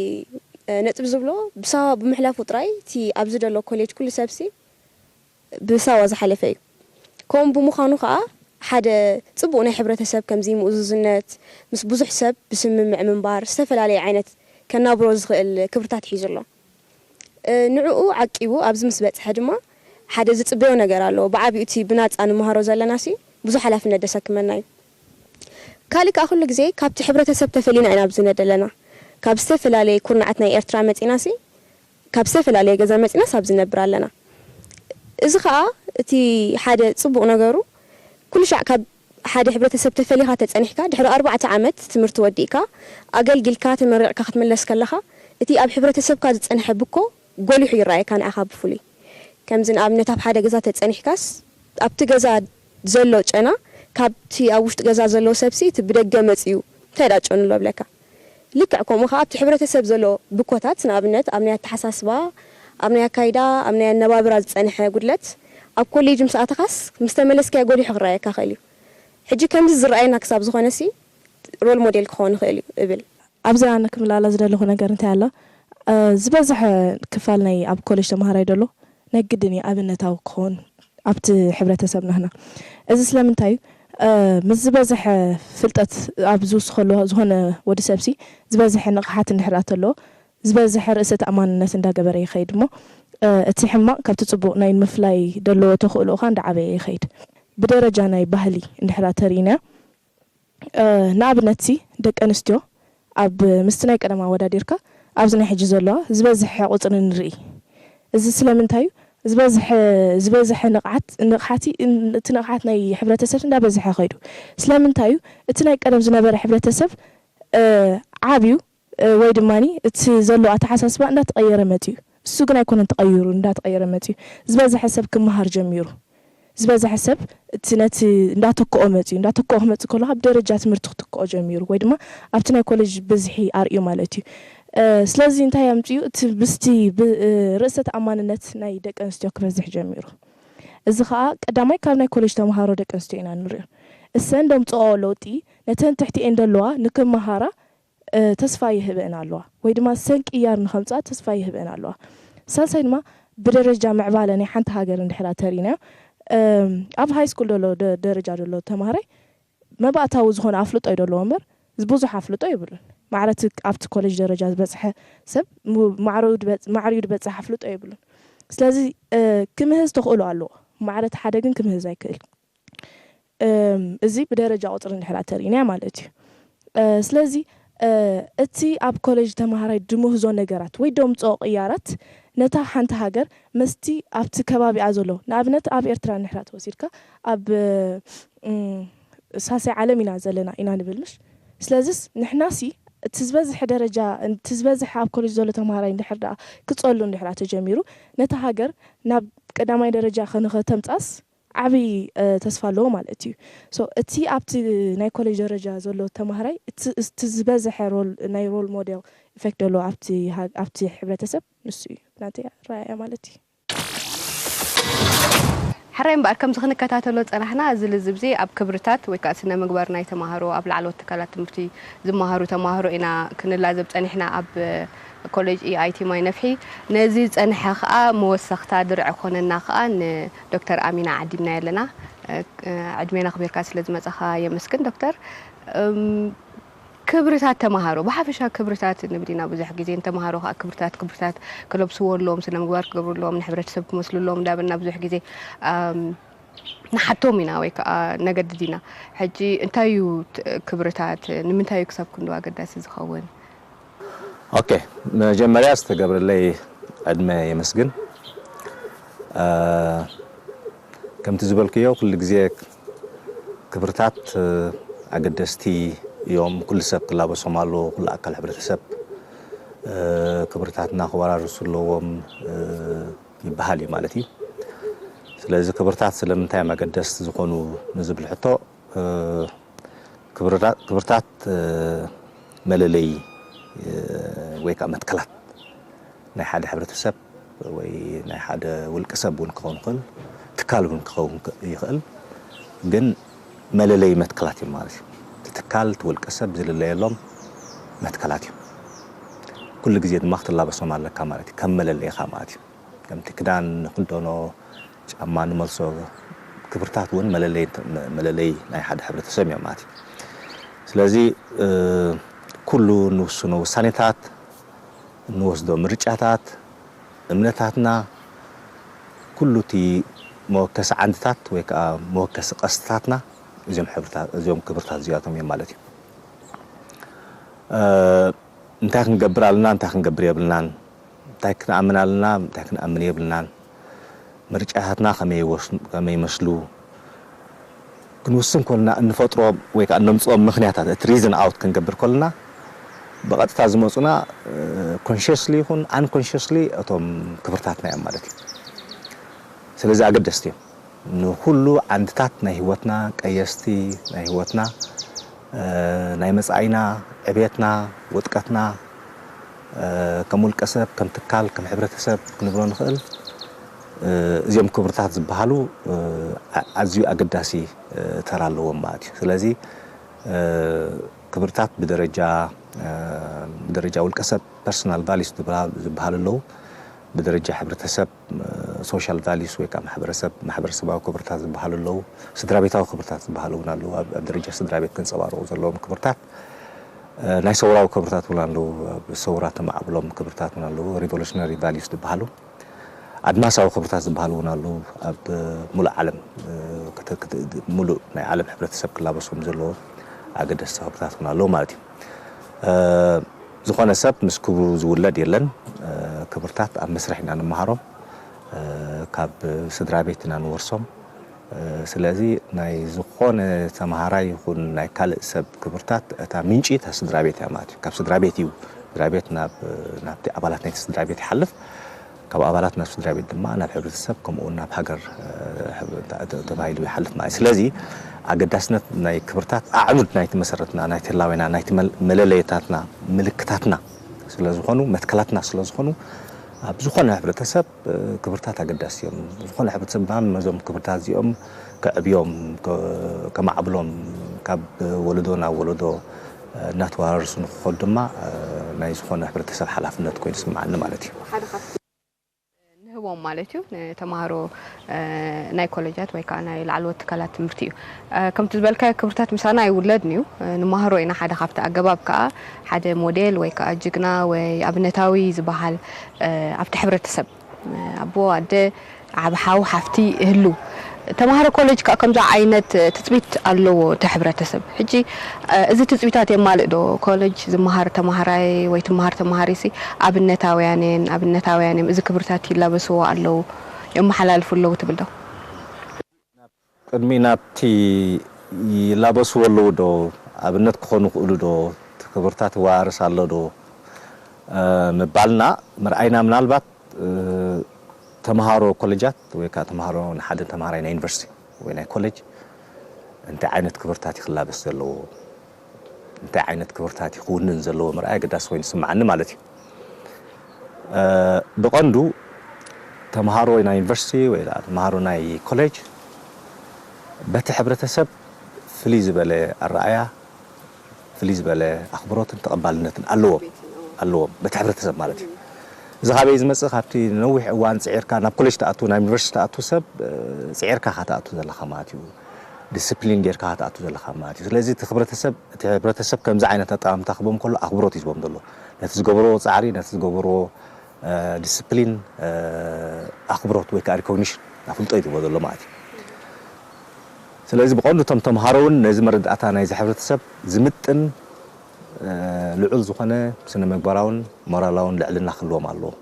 ነጥቢ ዝብሎ ብሳዋ ብምሕላፉ ጥራይ እቲ ኣብዚ ዘሎ ኮሌጅ ኩሉ ሰብሲ ብሳዋ ዝሓለፈ እዩ። ከምኡ ብምዃኑ ከኣ ሓደ ጽቡቕ ናይ ሕብረተሰብ ከምዚ ምእዙዝነት፣ ምስ ብዙሕ ሰብ ብስምምዕ ምንባር፣ ዝተፈላለየ ዓይነት ከናብሮ ዝኽእል ክብርታት ሒዙ ኣሎ። ንዕኡ ዓቂቡ ኣብዚ ምስ በጽሐ ድማ ሓደ ዝጽበዮ ነገር ኣለዎ። ብዓቢኡ እቲ ብናጻ ንመሃሮ ዘለናሲ ብዙሕ ሓላፍነት ደሰክመና እዩ። ካልእ ከኣ ኩሉ ግዜ ካብቲ ሕብረተሰብ ተፈሊና ኢና ኣብዚ ነደለና። ካብ ዝተፈላለየ ኩርናዓት ናይ ኤርትራ መጺናሲ ካብ ዝተፈላለየ ገዛ መጺናስ ኣብዚ ንነብር ኣለና። እዚ ከኣ እቲ ሓደ ጽቡቕ ነገሩ ኩሉ ሻዕ ካብ ሓደ ሕብረተሰብ ተፈሊኻ ተጸኒሕካ ድሕሪ ኣርባዕተ ዓመት ትምህርቲ ወዲእካ ኣገልጊልካ ተመሪቕካ ክትምለስ ከለኻ እቲ ኣብ ሕብረተሰብካ ዝጸንሐ ብኮ ጎሊሑ ይረኣየካ ንዓኻ ብፍሉይ ከምዚ ንኣብነት ኣብ ሓደ ገዛ ተጸኒሕካስ ኣብቲ ገዛ ዘሎ ጨና ካብቲ ኣብ ውሽጢ ገዛ ዘሎ ሰብሲ እቲ ብደገ መጺኡ እንታይ ደኣ ጨኑ ኣሎ እብለካ። ልክዕ ከምኡ ከኣ ኣብቲ ሕብረተሰብ ዘሎ ብኮታት ንኣብነት ኣብ ናይ ኣተሓሳስባ፣ ኣብ ናይ ኣካይዳ፣ ኣብ ናይ ኣነባብራ ዝጸንሐ ጉድለት ኣብ ኮሌጅ ምስ ኣተኻስ ምስ ተመለስካዮ ጎሊሑ ክረኣየካ ይኽእል እዩ። ሕጂ ከምዚ ዝረኣየና ክሳብ ዝኾነሲ ሮል ሞዴል ክኸውን ይኽእል እዩ እብል። ኣብዚ ኣነ ክምልኣላ ዝደለኹ ነገር እንታይ ኣሎ ዝበዝሐ ክፋል ናይ ኣብ ኮሌጅ ተማሃራይ ደሎ ነግድን እዩ ኣብነታዊ ክኾን ኣብቲ ሕብረተሰብ ናህና እዚ ስለምንታይ እዩ ምስ ዝበዘሐ ፍልጠት ኣብ ዝውስኸሉ ዝኾነ ወዲ ሰብሲ ዝበዘሐ ንቕሓት እንድሕር ኣተለዎ ዝበዘሐ ርእሰ ተኣማንነት እንዳገበረ ይኸይድ እሞ እቲ ሕማቕ ካብቲ ጽቡቕ ናይ ምፍላይ ደለዎ ተኽእሎኡ ኻኣ እንዳዓበየ ይኸይድ ብደረጃ ናይ ባህሊ እንድሕር ተሪኢናዮ ንኣብነትሲ ደቂ ኣንስትዮ ኣብ ምስቲ ናይ ቀደም ኣወዳዲርካ ኣብዚ ናይ ሕጂ ዘለዋ ዝበዝሐ ቁጽሪ ንርኢ እዚ ስለምንታይ እዩ ዝበዝሐ ዝበዝሐ ንቕዓት ንቕሓቲ እቲ ንቕሓት ናይ ሕብረተሰብ እንዳበዝሐ ከይዱ ስለምንታይ እዩ እቲ ናይ ቀደም ዝነበረ ሕብረተሰብ ዓብዩ ወይ ድማ እቲ ዘሎ ኣተሓሳስባ እንዳተቐየረ መጺኡ እሱ ግን ኣይኮነን ተቐይሩ እንዳተቐየረ መጺኡ ዝበዘሐ ሰብ ክመሃር ጀሚሩ ዝበዘሐ ሰብ እቲ ነቲ እንዳተክኦ መጺኡ እንዳተክኦ ክመጽእ ከሎ ካብ ደረጃ ትምህርቲ ክትክኦ ጀሚሩ ወይ ድማ ኣብቲ ናይ ኮለጅ ብዝሒ ኣርእዩ ማለት እዩ ስለዚ እንታይ ኣምጺኡ እቲ ምስቲ ርእሰ ተኣማንነት ናይ ደቂ ኣንስትዮ ክበዝሕ ጀሚሩ እዚ ከኣ ቀዳማይ ካብ ናይ ኮለጅ ተመሃሮ ደቂ ኣንስትዮ ኢና እንርእዮ እሰን ደምጽኦኦ ለውጢ ነተን ትሕቲኤን ደለዋ ንክመሃራ ተስፋ ይህበእን ኣለዋ ወይ ድማ ሰን ቅያር ንኸምጽኣ ተስፋ ይህበእን ኣለዋ። ሳልሳይ ድማ ብደረጃ ምዕባለ ናይ ሓንቲ ሃገር እንድሕር ኣተሪእናዮ ኣብ ሃይስኩል ደሎ ደረጃ ደሎ ተማሃራይ መባእታዊ ዝኾነ ኣፍልጦ እዩ ደለዎ እምበር ብዙሕ ኣፍልጦ የብሉን። ማዕረ እቲ ኣብቲ ኮለጅ ደረጃ ዝበጽሐ ሰብ ማዕረኡ ማዕሪኡ ድበጽሕ ኣፍልጦ የብሉን። ስለዚ ክምህዝ ተኽእሎ ኣለዎ ማዕረ እቲ ሓደ ግን ክምህዝ ኣይክእል። እዚ ብደረጃ ቁጽሪ እንድሕር ኣተሪእናያ ማለት እዩ። ስለዚ እቲ ኣብ ኮለጅ ተማሃራይ ድምህዞ ነገራት ወይ ደምጽኦ ቅያራት ነታ ሓንቲ ሃገር ምስቲ ኣብቲ ከባቢኣ ዘሎ ንኣብነት ኣብ ኤርትራ እንድሕር ተወሲድካ ኣብ ሳልሳይ ዓለም ኢና ዘለና ኢና ንብል ምሽ ስለዝስ ንሕናሲ እቲ ዝበዝሐ ደረጃ እቲ ዝበዝሐ ኣብ ኮለጅ ዘሎ ተማሃራይ እንድሕር ድኣ ክጸሉ እንድሕር ተጀሚሩ ነታ ሃገር ናብ ቀዳማይ ደረጃ ከንኸተምጽኣስ ዓቢ ተስፋ ኣለዎ ማለት እዩ so እቲ ኣብቲ ናይ ኮሌጅ ደረጃ ዘሎ ተማሃራይ እቲ እቲ ዝበዘሐ ሮል ናይ ሮል ሞዴል ኢፌክት ደለዎ ኣብቲ ኣብቲ ሕብረተሰብ ንሱ እዩ ናተይ ኣረኣእያ ማለት እዩ። ሕራይ እምበኣር ከምዚ ክንከታተሎ ዝጸናሕና እዚ ልዝብዚ ኣብ ክብርታት ወይ ከኣ ስነ ምግባር ናይ ተማሃሮ ኣብ ላዕለዎት ትካላት ትምህርቲ ዝመሃሩ ተማሃሮ ኢና ክንላዘብ ጸኒሕና ኣብ ኮሌጅ EIT ማይ ነፍሒ ነዚ ዝጸንሐ ከኣ መወሰኽታ ድርዒ ክኾነና ከኣ ን ዶክተር ኣሚና ዓዲምናያ ኣለና ዕድሜና ኣኽቢርካ ስለ ዝመጻኻ የመስግን ዶክተር ክብርታት ተማሃሮ ብሓፈሻ ክብርታት ንብል ኢና ብዙሕ ግዜ ንተማሃሮ ከዓ ክብርታት ክብርታት ክለብስዎ ኣለዎም ስነ ምግባር ክገብርሎም ንሕብረተሰብ ክመስልሎም እንዳበልና ብዙሕ ግዜ ንሓቶም ኢና ወይ ከዓ ነገድድ ኢና ሕጂ እንታይ እዩ ክብርታት ንምንታይ እዩ ክሳብ ክንዶ ኣገዳሲ ዝኸውን ኦኬ መጀመርያ ዝተገብረለይ ዕድመ የመስግን ከምቲ ዝበልክዮ ኩሉ ግዜ ክብርታት ኣገደስቲ እዮም ኩሉ ሰብ ክላበሶም ኣለዎ ኩሉ ኣካል ሕብረተሰብ ክብርታትና ክወራርሱ ኣለዎም ይበሃል እዩ ማለት እዩ ስለዚ ክብርታት ስለምንታይ እዮም ኣገደስቲ ዝኾኑ ንዝብል ሕቶ ክብርታት መለለዪ ወይ ከዓ መትከላት ናይ ሓደ ሕብረተሰብ ወይ ናይ ሓደ ውልቀ ሰብ እውን ክኸውን ይኽእል፣ ትካል እውን ክኸውን ይኽእል። ግን መለለዪ መትከላት እዮም ማለት እዩ። እቲ ትካል እቲ ውልቀ ሰብ ዝልለየሎም መትከላት እዮም። ኩሉ ግዜ ድማ ክትላበሶም ኣለካ ማለት እዩ። ከም መለለይኻ ማለት እዩ። ከምቲ ክዳን ንኽደኖ፣ ጫማ ንመልሶ፣ ክብርታት እውን መለለይ ናይ ሓደ ሕብረተሰብ እዮም ማለት እዩ። ስለዚ ኩሉ እንውስኖ ውሳኔታት፣ እንወስዶ ምርጫታት፣ እምነታትና፣ ኩሉ እቲ መወከሲ ዓንድታት ወይ ከኣ መወከሲ ቀስትታትና እዚኦም ክብርታት እዚኣቶም እዮም ማለት እዩ። እንታይ ክንገብር ኣለና እንታይ ክንገብር የብልናን? እንታይ ክንኣምን ኣለና እንታይ ክንኣምን የብልናን፣ ምርጫታትና ከመይ ይመስሉ ክንውስን ከሎና እንፈጥሮ ወይ ከኣ እነምጽኦም ምኽንያታት እቲ ሪዝን ኣውት ክንገብር ከሎና ብቐጥታ ዝመጹና ኮንሸስሊ ይኹን ኣን ኮንሸስሊ እቶም ክብርታትና እዮም ማለት እዩ። ስለዚ ኣገደስቲ እዮም። ንኹሉ ዓንድታት ናይ ህይወትና ቀየስቲ ናይ ህይወትና ናይ መጻኢና ዕብየትና ውጥቀትና ከም ውልቀ ሰብ ከም ትካል ከም ሕብረተሰብ ክንብሎ ንኽእል እዚኦም ክብርታት ዝበሃሉ ኣዝዩ ኣገዳሲ ተራ ኣለዎም ማለት እዩ ስለዚ ክብርታት ብደረጃ ብደረጃ ውልቀ ሰብ ፐርሰናል ቫሊዩስ ዝበሃሉ ኣለዉ ብደረጃ ሕብረተሰብ ሶሻል ቫሊዩስ ወይ ከኣ ማሕበረሰብ ማሕበረሰባዊ ክብርታት ዝበሃሉ ኣለዉ። ስድራቤታዊ ክብርታት ዝበሃሉ እውን ኣለዉ። ኣብ ኣብ ደረጃ ስድራቤት ክንጸባረቑ ዘለዎም ክብርታት ናይ ሰውራዊ ክብርታት እውን ኣለዉ። ኣብ ሰውራ ተማዕብሎም ክብርታት እውን ኣለዉ። ሪቮሉሽነሪ ቫሊዩስ ዝበሃሉ። ኣድማሳዊ ክብርታት ዝበሃሉ እውን ኣለዉ። ኣብ ምሉእ ዓለም ምሉእ ናይ ዓለም ሕብረተሰብ ክላበሶም ዘለዎም ኣገደስቲ ክብርታት እውን ኣለዉ ማለት እዩ። ዝኾነ ሰብ ምስ ክብሩ ዝውለድ የለን ክብርታት ኣብ መስርሕ ኢና ንመሃሮም ካብ ስድራ ቤት ኢና ንወርሶም ስለዚ ናይ ዝኾነ ተምሃራይ ይኹን ናይ ካልእ ሰብ ክብርታት እታ ምንጪ እታ ስድራ ቤት እያ ማለት እዩ ካብ ስድራ ቤት እዩ ስድራ ቤት ናብ ናብቲ ኣባላት ናይቲ ስድራ ቤት ይሓልፍ ካብ ኣባላት ናብ ስድራቤት ድማ ናብ ሕብረተሰብ ከምኡውን ናብ ሃገር ተባሂሉ ይሓልፍ ማለት እዩ። ስለዚ ኣገዳስነት ናይ ክብርታት ኣዕኑድ ናይቲ መሰረትና፣ ናይቲ ህላዌና፣ ናይቲ መለለዪታትና፣ ምልክታትና ስለዝኾኑ፣ መትከላትና ስለዝኾኑ፣ ኣብ ዝኾነ ሕብረተሰብ ክብርታት ኣገዳሲ እዮም። ዝኾነ ሕብረተሰብ ድማ ነዞም ክብርታት እዚኦም ከዕብዮም፣ ከማዕብሎም ካብ ወለዶ ናብ ወለዶ፣ እናተወራረሱ ንክኸዱ ድማ ናይ ዝኾነ ሕብረተሰብ ሓላፍነት ኮይኑ ይስመዓኒ ማለት እዩ። ንህቦም ማለት እዩ ንተማሃሮ ናይ ኮለጃት ወይ ከዓ ናይ ላዕለዎት ትካላት ትምህርቲ እዩ። ከምቲ ዝበልካዮ ክብርታት ምሳና ኣይውለድን እዩ ንማሃሮ ኢና ሓደ ካብቲ ኣገባብ ከዓ ሓደ ሞዴል ወይ ከዓ ጅግና ወይ ኣብነታዊ ዝበሃል ኣብቲ ሕብረተሰብ ኣቦ፣ ኣደ፣ ዓቢ ሓው፣ ሓፍቲ ይህልው። ተማሃሮ ኮሌጅ ከኣ ከምዚ ዓይነት ትጽቢት ኣለዎ እቲ ሕብረተሰብ። ሕጂ እዚ ትጽቢታት የማልእ ዶ? ኮለጅ ዝመሃር ተማሃራይ ወይ ትመሃር ተማሃሪሲ ኣብነታውያን እየን፣ ኣብነታውያን እዮም፣ እዚ ክብርታት ይላበስዎ ኣለዉ፣ የመሓላልፉ ኣለዉ ትብል ዶ? ቅድሚ ናብቲ ይላበስዎ ኣለዉ ዶ ኣብነት ክኾኑ ይኽእሉ ዶ እቲ ክብርታት ይወራረስ ኣሎ ዶ ምባልና ምርኣይና ምናልባት ተምሃሮ ኮለጃት ወይ ከኣ ተምሃሮ ንሓደ ተምሃራይ ናይ ዩኒቨርሲቲ ወይ ናይ ኮለጅ እንታይ ዓይነት ክብርታት እዩ ክላበስ ዘለዎ እንታይ ዓይነት ክብርታት እዩ ክውንን ዘለዎ ምርኣይ ኣገዳሲ ኮይኑ ዝስምዓኒ ማለት እዩ። ብቐንዱ ተምሃሮ ናይ ዩኒቨርሲቲ ወይ ከኣ ተምሃሮ ናይ ኮሌጅ በቲ ሕብረተሰብ ፍልይ ዝበለ ኣረኣእያ፣ ፍልይ ዝበለ ኣኽብሮትን ተቐባልነትን ኣለዎም ኣለዎም በቲ ሕብረተሰብ ማለት እዩ። እዚ ካበይ ዝመጽእ ካብቲ ንነዊሕ እዋን ጽዒርካ ናብ ኮሌጅ ትኣቱ ናብ ዩኒቨርሲቲ ትኣቱ ሰብ ጽዒርካ ኢኻ ትኣቱ ዘለኻ ማለት እዩ። ዲሲፕሊን ጌርካ ትኣቱ ዘለኻ ማለት እዩ ስለዚ እቲ ክብረተሰብ እቲ ሕብረተሰብ ከምዚ ዓይነት ኣጠማምታ ክህቦም ከሎ ኣኽብሮት እዩ ዝህቦም ዘሎ ነቲ ዝገበርዎ ጻዕሪ ነቲ ዝገበርዎ ዲሲፕሊን ኣኽብሮት ወይ ከዓ ሪኮግኒሽን ኣፍልጦ እዩ ዝህቦ ዘሎ ማለት እዩ ስለዚ ብቐንዱ እቶም ተምሃሮ እውን ነዚ መረዳእታ ናይዚ ሕብረተሰብ ዝምጥን ልዑል ዝኾነ ስነ ምግባራውን ሞራላውን ልዕልና ክህልዎም ኣለዎ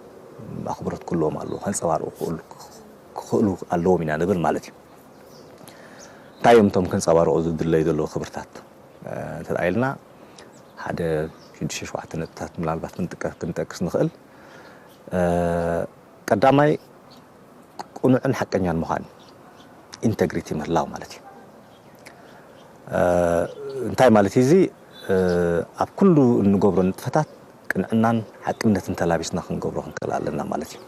ኣኽብሮት ክህልዎም ኣለዎ ከንጸባርቑ ክኽእሉ ኣለዎም ኢና ንብል ማለት እዩ እንታይ እዮም እቶም ክንጸባረቑ ዝድለዩ ዘለዉ ክብርታት እንተድኣ ኢልና ሓደ ሽዱሽተ ሸውዓተ ነጥብታት ምናልባት ክንጠቅስ ንኽእል። ቀዳማይ ቅኑዕን ሓቀኛን ምዃን ኢንተግሪቲ ምህላው ማለት እዩ እንታይ ማለት እዩ እዚ ኣብ ኩሉ እንገብሮ ንጥፈታት ቅንዕናን ሓቅነትን ተላቢስና ክንገብሮ ክንክእል ኣለና ማለት እዩ።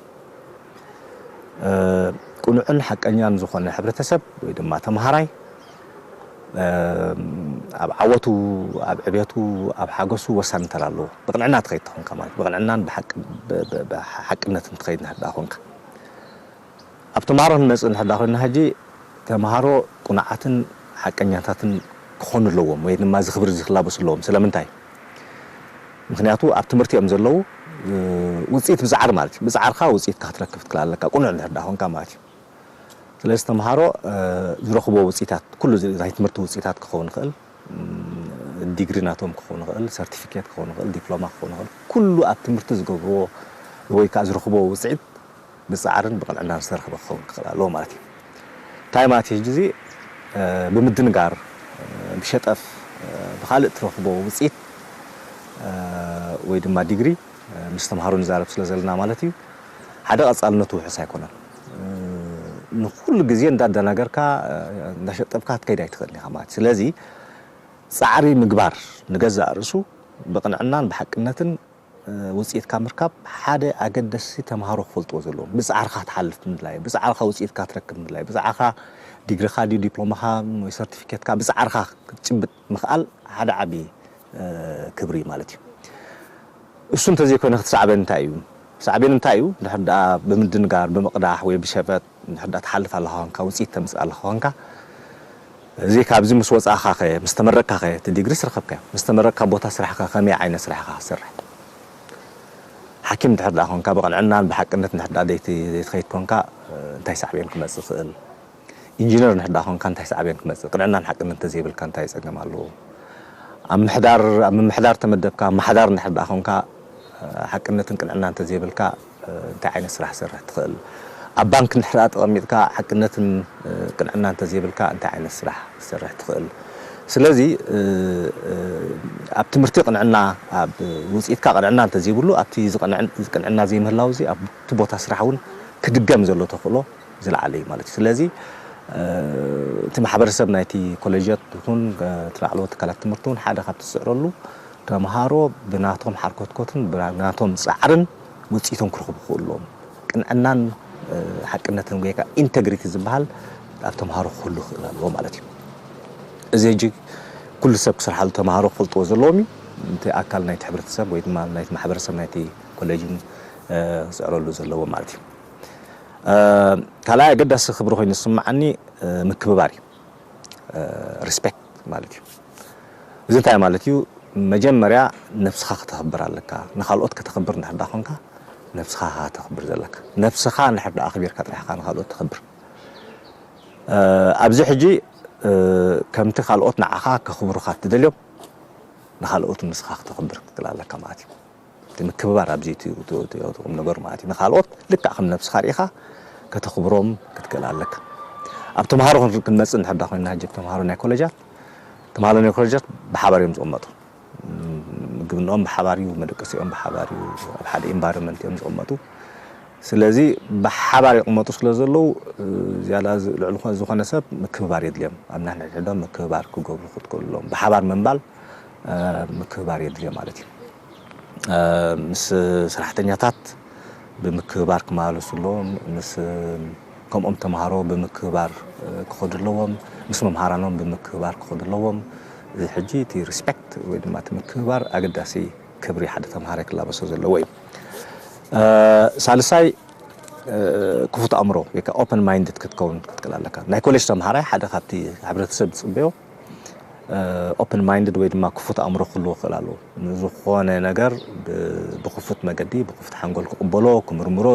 ቅኑዕን ሓቀኛን ዝኾነ ሕብረተሰብ ወይ ድማ ተምሃራይ ኣብ ዓወቱ፣ ኣብ ዕብየቱ፣ ኣብ ሓጎሱ ወሳኒ ተራ ኣለዎ። ብቕንዕና ትኸይድ ተኾንካ ማለት ብቕንዕናን ብሓቅነትን ትኸይድ እንድሕር ደኣ ኮንካ። ኣብ ተማሃሮ ክንመጽእ እንድሕር ደኣ ኮይንና ሕጂ፣ ተማሃሮ ቅኑዓትን ሓቀኛታትን ክኾኑ ኣለዎም ወይ ድማ እዚ ክብሪ እዚ ክላበሱ ኣለዎም። ስለምንታይ? ምኽንያቱ ኣብ ትምህርቲ እዮም ዘለዉ፣ ውጽኢት ምጽዓር ማለት እዩ። ምጽዓርካ ውጽኢትካ ክትረክብ ክትክል ኣለካ፣ ቅኑዕ እንድሕር ደኣ ኮንካ ማለት እዩ። ስለዚ ተማሃሮ ዝረኽብዎ ውጽኢታት፣ ኩሉ እዚ ናይ ትምህርቲ ውጽኢታት ክኸውን ይኽእል፣ ዲግሪ ናቶም ክኸውን ይኽእል፣ ሰርቲፊኬት ክኸውን ይኽእል፣ ዲፕሎማ ክኸውን ይኽእል፣ ኩሉ ኣብ ትምህርቲ ዝገብርዎ ወይ ከኣ ዝረኽብዎ ውጽዒት፣ ብጻዕርን ብቅንዕናን ዝተረኽበ ክኸውን ክኽእል ኣለዎ ማለት እዩ። እንታይ ማለት እዩ ሕጂ እዚ ብምድንጋር ብሸጠፍ ብኻልእ ትረኽቦ ውጽኢት ወይ ድማ ዲግሪ ምስ ተምሃሮ ንዛረብ ስለ ዘለና ማለት እዩ ሓደ ቀጻልነቱ ውሑስ ኣይኮነን። ንኹሉ ግዜ እንዳደናገርካ እንዳሸጠፍካ ክትከይድ ኣይትኽእልን ኢኻ ማለት እዩ። ስለዚ ጻዕሪ ምግባር ንገዛእ ርእሱ ብቅንዕናን ብሓቅነትን ውጽኢት ካብ ምርካብ ሓደ ኣገደስቲ ተማሃሮ ክፈልጥዎ ዘለዎም ብጻዕርኻ ትሓልፍ ምድላይ፣ ብጻዕርኻ ውጽኢትካ ትረክብ ምድላይ፣ ብጻዕርኻ ዲግሪኻ ድዩ ዲፕሎማኻ ወይ ሰርቲፊኬትካ ብጻዕርኻ ክትጭብጥ ምኽኣል ሓደ ዓቢ ክብሪ እዩ ማለት እዩ። እሱ እንተዘይኮይኑ ክትሳዕበን እንታይ እዩ? ሳዕቤኑ እንታይ እዩ? እንድሕር ደኣ ብምድንጋር፣ ብምቕዳሕ ወይ ብሸፈጥ ንሕዳ ትሓልፍ ኣለኻ ኮንካ ውጽኢት ተምጽእ ኣለኻ ኮንካ እዚ ካብዚ ምስ ወጻእኻ ከ ምስ ተመረቅካ ከ እቲ ዲግሪ ስረከብካዮ ምስ ተመረቅካ ቦታ ስራሕ ከ ከመይ ዓይነት ስራሕ ኢኻ ክትሰርሕ ሓኪም ድሕር ድኣ ኮንካ ብቅንዕናን ብሓቅነት ንሕዳ ዘይትኸይድ ኮንካ እንታይ ሳዕቤን ክመጽእ ይኽእል ኢንጂነር ንሕዳ ኮንካ እንታይ ሳዕቤን ክመጽእ ቅንዕናን ሓቅነት እንተዘይብልካ እንታይ ጸገም ኣለዎ ኣብ ምሕዳር ኣብ ምምሕዳር ተመደብካ ኣማሓዳር እንድሕር ድኣ ኮንካ ሓቅነትን ቅንዕናን እንተዘይብልካ እንታይ ዓይነት ስራሕ ክትሰርሕ ትኽእል? ኣብ ባንክ እንድሕር ተቐሚጥካ ሓቅነትን ቅንዕናን እንተዘይብልካ እንታይ ዓይነት ስራሕ ክትሰርሕ ትኽእል? ስለዚ ኣብ ትምህርቲ ቅንዕና ኣብ ውፅኢትካ ቅንዕና እንተዘይብሉ ኣብቲ ቅንዕና ዘይምህላው እዚ ኣብቲ ቦታ ስራሕ እውን ክድገም ዘሎ ተኽእሎ ዝለዓለ እዩ ማለት እዩ። ስለዚ እቲ ማሕበረሰብ ናይቲ ኮሌጃት ይኹን እቲ ላዕለዎት ትካላት ትምህርቲ እውን ሓደ ካብቲ ዝፅዕረሉ ተምሃሮ ብናቶም ሓርኮትኮትን ብናቶም ፃዕርን ውፅኢቶም ክረኽቡ ክኽእሉ ኣለዎም። ቅንዕናን ሓቅነትን ወይ ከዓ ኢንተግሪቲ ዝበሃል ኣብ ተምሃሮ ክህሉ ክኽእል ኣለዎ ማለት እዩ። እዚ ሕጂ ኩሉ ሰብ ክሰርሓሉ ተምሃሮ ክፈልጥዎ ዘለዎም እዩ። እቲ ኣካል ናይቲ ሕብረተሰብ ወይ ድማ ናይቲ ማሕበረሰብ ናይቲ ኮሌጅ እውን ክፅዕረሉ ዘለዎ ማለት እዩ። ካልኣይ ኣገዳሲ ክብሪ ኮይኑ ዝስምዓኒ ምክብባር እዩ። ሪስፔክት ማለት እዩ። እዚ እንታይ ማለት እዩ መጀመርያ ነብስኻ ከተኽብር ኣለካ ንኻልኦት ከተኽብር እንድሕር ደኣ ኮንካ ነብስኻ ኢኻ ከተኽብር ዘለካ ነብስኻ እንድሕር ደኣ ኣኽቢርካ ጥራሕ ኢኻ ንኻልኦት ተኽብር ኣብዚ ሕጂ ከምቲ ካልኦት ንዓኻ ከኽብሩኻ እትደልዮም ንኻልኦት ንስኻ ክተኽብር ክትክእል ኣለካ ማለት እዩ። እቲ ምክብባር ኣብዚ እቲ ቁምነገሩ ማለት እዩ። ንካልኦት ልክዕ ከም ነብስኻ ርኢኻ ከተኽብሮም ክትክእል ኣለካ። ኣብ ተምሃሮ ክንመጽእ እንድሕር ድኣ ኮይና ሕጂ ተምሃሮ ናይ ኮለጃት ተምሃሮ ናይ ኮለጃት ብሓባር እዮም ዝቕመጡ። ምግብንኦም ብሓባር እዩ፣ መደቀሲኦም ብሓባር እዩ፣ ኣብ ሓደ ኢንቫይሮመንት እዮም ዝቕመጡ። ስለዚ ብሓባር ይቕመጡ ስለ ዘለዉ ዝያዳ ልዕሊ ዝኾነ ሰብ ምክብባር የድልዮም። ኣብ ነንሕድሕዶም ምክብባር ክገብሩ ክትክእሎም ብሓባር ምንባል ምክብባር የድልዮ ማለት እዩ። ምስ ሰራሕተኛታት ብምክብባር ክመላለሱ ኣለዎም፣ ምስ ከምኦም ተምሃሮ ብምክብባር ክኸዱ ኣለዎም፣ ምስ መምሃራኖም ብምክብባር ክኸዱ ኣለዎም። እዚ ሕጂ እቲ Respect ወይ ድማ እቲ ምክብባር ኣገዳሲ ክብሪ ሓደ ተምሃራይ ክላበሶ ዘለዎ እዩ። ሳልሳይ ክፉት ኣእምሮ ወይ ከኣ Open Minded ክትከውን ክትክእል ኣለካ። ናይ ኮሌጅ ተምሃራይ ሓደ ካብቲ ሕብረተሰብ ዝጽበዮ ኦፕን ማይንድድ ወይ ድማ ክፉት ኣእምሮ ክህልዎ ክኽእል ኣለዎ። ንዝኾነ ነገር ብክፉት መገዲ ብክፉት ሓንጎል ክቕበሎ፣ ክምርምሮ፣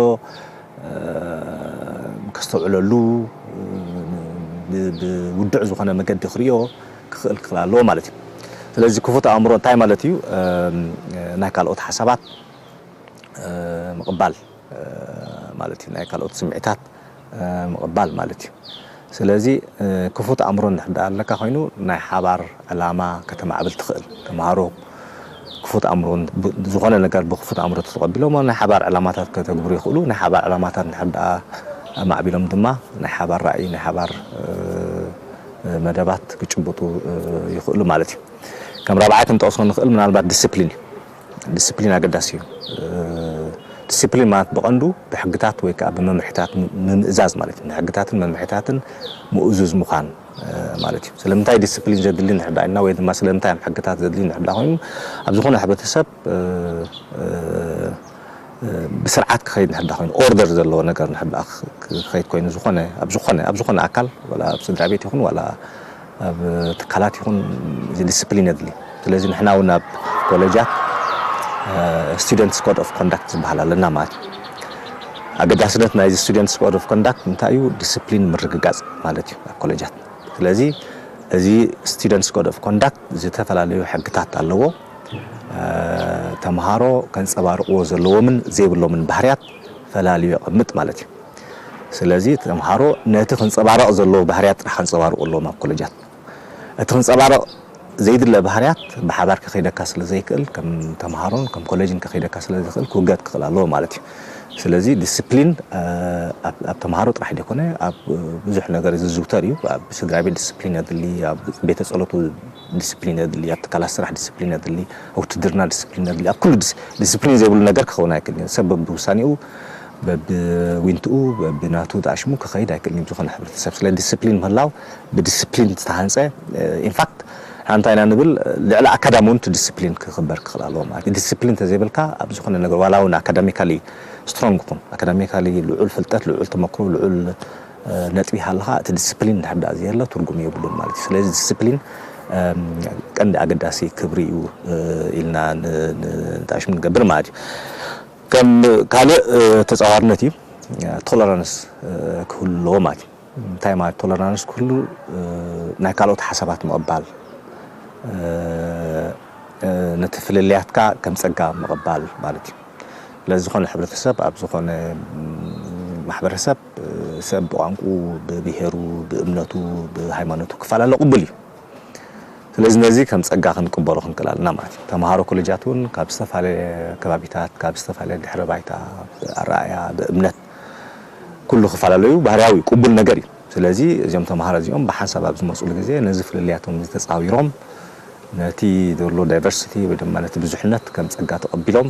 ከስተውዕለሉ፣ ብውዱዕ ዝኾነ መገዲ ክርእዮ ክኽእል ክኽእል ኣለዎ ማለት እዩ። ስለዚ ክፉት ኣእምሮ እንታይ ማለት እዩ? ናይ ካልኦት ሓሳባት ምቕባል። ማለት እዩ ናይ ካልኦት ስምዒታት ምቕባል ማለት እዩ ስለዚ ክፉት ኣእምሮ እንድሕር ድኣ ኣለካ ኮይኑ ናይ ሓባር ዕላማ ከተማዕብል ትኽእል ተምሃሮ ክፉት ኣእምሮ ዝኾነ ነገር ብክፉት ኣእምሮ ተተቐቢሎሞ ናይ ሓባር ዕላማታት ከተግብሩ ይኽእሉ ናይ ሓባር ዕላማታት እንድሕር ድኣ ኣማዕቢሎም ድማ ናይ ሓባር ራእይ ናይ ሓባር መደባት ክጭብጡ ይኽእሉ ማለት እዩ ከም ራብዓይ ክንጠቕሶ ንኽእል ምናልባት ዲሲፕሊን እዩ ዲሲፕሊን ኣገዳሲ እዩ። ዲሲፕሊን ማለት ብቐንዱ ብሕግታት ወይ ከዓ ብመምርሒታት ምምእዛዝ ማለት እዩ። ንሕግታትን መምርሒታትን ምእዙዝ ምዃን ማለት እዩ። ስለምንታይ ዲሲፕሊን ዘድሊ ንሕዳ ኢልና ወይ ድማ ስለምንታይ እዮም ሕግታት ዘድሊ ንሕዳ ኮይኑ ኣብ ዝኾነ ሕብረተሰብ ብስርዓት ክኸይድ ንሕዳ ኮይኑ ኦርደር ዘለዎ ነገር ንሕዳ ክኸይድ ኮይኑ ዝኾነ ኣብ ዝኾነ ኣብ ዝኾነ ኣካል ዋላ ኣብ ስድራ ቤት ይኹን ዋላ ኣብ ትካላት ይኹን እዚ ዲስፕሊን የድሊ። ስለዚ ንሕና እውን ኣብ ኮለጃት ስቱደንትስ ኮድ ኦፍ ኮንዳክት ዝበሃል ኣለና ማለት እዩ። ኣገዳስነት ናይዚ ስቱደንትስ ኮድ ኦፍ ኮንዳክት እንታይ እዩ? ዲስፕሊን ምርግጋፅ ማለት እዩ ኣብ ኮለጃት። ስለዚ እዚ ስቱደንትስ ኮድ ኦፍ ኮንዳክት ዝተፈላለዩ ሕግታት ኣለዎ። ተምሃሮ ከንፀባርቕዎ ዘለዎምን ዘይብሎምን ባህርያት ፈላልዩ የቐምጥ ማለት እዩ። ስለዚ ተምሃሮ ነቲ ክንጸባረቕ ዘለዎ ባህርያት ጥራሕ ከንጸባርቑ ኣለዎም ኣብ ኮለጃት። እቲ ክንጸባረቕ ዘይድለ ባህርያት ብሓባር ከኺደካ ስለ ዘይክእል ከም ተምሃሮን ከም ኮለጅን ከኺደካ ስለ ዘይክእል ክውገድ ክኽእል ኣለዎ ማለት እዩ። ስለዚ ዲስፕሊን ኣብ ተምሃሮ ጥራሕ ዘይኮነ ኣብ ብዙሕ ነገር ዝዝውተር እዩ። ኣብ ስድራቤት ዲስፕሊን የድሊ፣ ኣብ ቤተ ጸሎት ዲስፕሊን የድሊ፣ ኣብ ትካላት ስራሕ ዲስፕሊን የድሊ፣ ኣብ ውትድርና ዲስፕሊን የድሊ፣ ኣብ ኩሉ ዲስፕሊን ዘይብሉ ነገር ክኸውን ኣይክእልን እዩ። ሰብ በብውሳኔኡ በብዊንትኡ በብናቱ ጣሽሙ ክኸይድ ኣይክእልን እዩ ብዝኾነ ሕብረተሰብ ስለ ዲስፕሊን ምህላው ብዲስፕሊን ዝተሃንጸ ኢንፋክት ንሕና እንታይ ኢና ንብል ልዕሊ ኣካዳሚ እውን እቲ ዲስፕሊን ክኽበር ክኽእል ኣለዎ ማለት እዩ ዲስፕሊን ተዘይብልካ ኣብ ዝኾነ ነገር ዋላ እውን ኣካዳሚካሊ ስትሮንግ ኩን ኣካዳሚካሊ ልዑል ፍልጠት ልዑል ተመክሮ ልዑል ነጥቢ ይሃልኻ እቲ ዲስፕሊን እንድሕር ደኣ ዘየሎ ትርጉም የብሉን ማለት እዩ ስለዚ ዲስፕሊን ቀንዲ ኣገዳሲ ክብሪ እዩ ኢልና ንጣሽሙ ንገብር ማለት እዩ ከም ካልእ ተጻዋርነት እዩ ቶለራንስ ክህሉ ኣለዎ ማለት እዩ። እንታይ ማለት ቶለራንስ ክህሉ ናይ ካልኦት ሓሳባት ምቕባል ነቲ ፍልልያትካ ከም ጸጋ ምቕባል ማለት እዩ። ስለዚ ዝኾነ ሕብረተሰብ ኣብ ዝኾነ ማሕበረሰብ ሰብ ብቋንቁኡ፣ ብብሄሩ፣ ብእምነቱ፣ ብሃይማኖቱ ክፈላለ ቅቡል እዩ። ስለዚ ነዚ ከም ጸጋ ክንቅበሎ ክንክእል ኣለና ማለት እዩ። ተመሃሮ ኮለጃት እውን ካብ ዝተፈላለየ ከባቢታት፣ ካብ ዝተፈላለየ ድሕረ ባይታ፣ ብኣረኣእያ፣ ብእምነት ኩሉ ክፈላለዩ ባህርያዊ እዩ፣ ቅቡል ነገር እዩ። ስለዚ እዚኦም ተመሃሮ እዚኦም ብሓንሳብ ኣብ ዝመጽሉ ግዜ ነዚ ፍልልያቶም እዚ ተጻዊሮም ነቲ ዘሎ ዳይቨርሲቲ ወይ ድማ ነቲ ብዙሕነት ከም ጸጋ ተቐቢሎም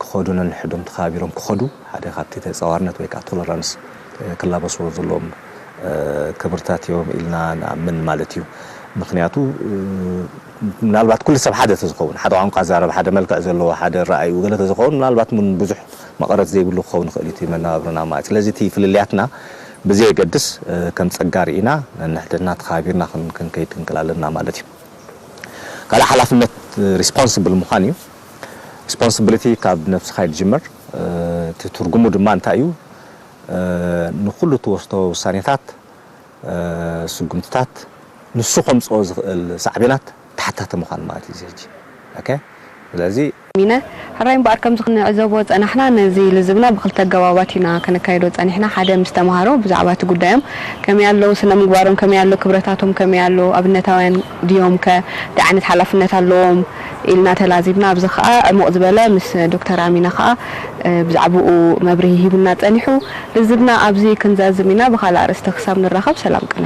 ክኸዱ ነንሕዶም ተኸባቢሮም ክኸዱ ሓደ ካብቲ ተጻዋርነት ወይ ከኣ ቶለራንስ ክላበስዎ ዘለዎም ክብርታት እዮም ኢልና ንኣምን ማለት እዩ። ምኽንያቱ ምናልባት ኩሉ ሰብ ሓደ ተዝኸውን፣ ሓደ ቋንቋ ዝዛረብ፣ ሓደ መልክዕ ዘለዎ፣ ሓደ ኣረኣእይኡ ገለ ተዝኸውን ምናልባት እውን ብዙሕ መቐረት ዘይብሉ ክኸውን ይኽእል እዩ እቲ መነባብሮና ማለት። ስለዚ እቲ ፍልልያትና ብዘየገድስ ከም ጸጋ ርኢና ነንሕድሕድና ተኸባቢርና ክንከይድ ክንክእል ኣለና ማለት እዩ። ካልእ ሓላፍነት ሪስፖንስብል ምዃን እዩ። ሪስፖንስብሊቲ ካብ ነብስኻ እዩ ዝጅምር። እቲ ትርጉሙ ድማ እንታይ እዩ? ንኹሉ እትወስዶ ውሳኔታት፣ ስጉምትታት፣ ንሱ ከምጽኦ ዝኽእል ሳዕቤናት ተሓታቲ ምዃን ማለት እዩ እዚ ሕጂ ኦኬ ስለዚ። ሚነ፣ ሕራይ እምበኣር ከምዚ ክንዕዘቦ ዝጸናሕና ነዚ ልዝብና ብኽልተ ኣገባባት ኢና ከነካይዶ ጸኒሕና፣ ሓደ ምስ ተማሃሮ ብዛዕባ እቲ ጉዳዮም ከመይ ኣሎ፣ ስነምግባሮም ከመይ ኣሎ፣ ክብረታቶም ከመይ ኣሎ፣ ኣብነታውያን፣ ድዮምከ? እንታይ ዓይነት ሓላፍነት ኣለዎም? ኢልና ተላዚብና። ኣብዚ ከኣ ዕሙቕ ዝበለ ምስ ዶክተር ኣሚነ ከኣ ብዛዕብኡ መብርሂ ሂቡና ጸኒሑ። ልዝብና ኣብዚ ክንዛዝም ኢና፣ ብኻልእ ኣርእስቲ ክሳብ ንራኸብ ሰላም ቅነ።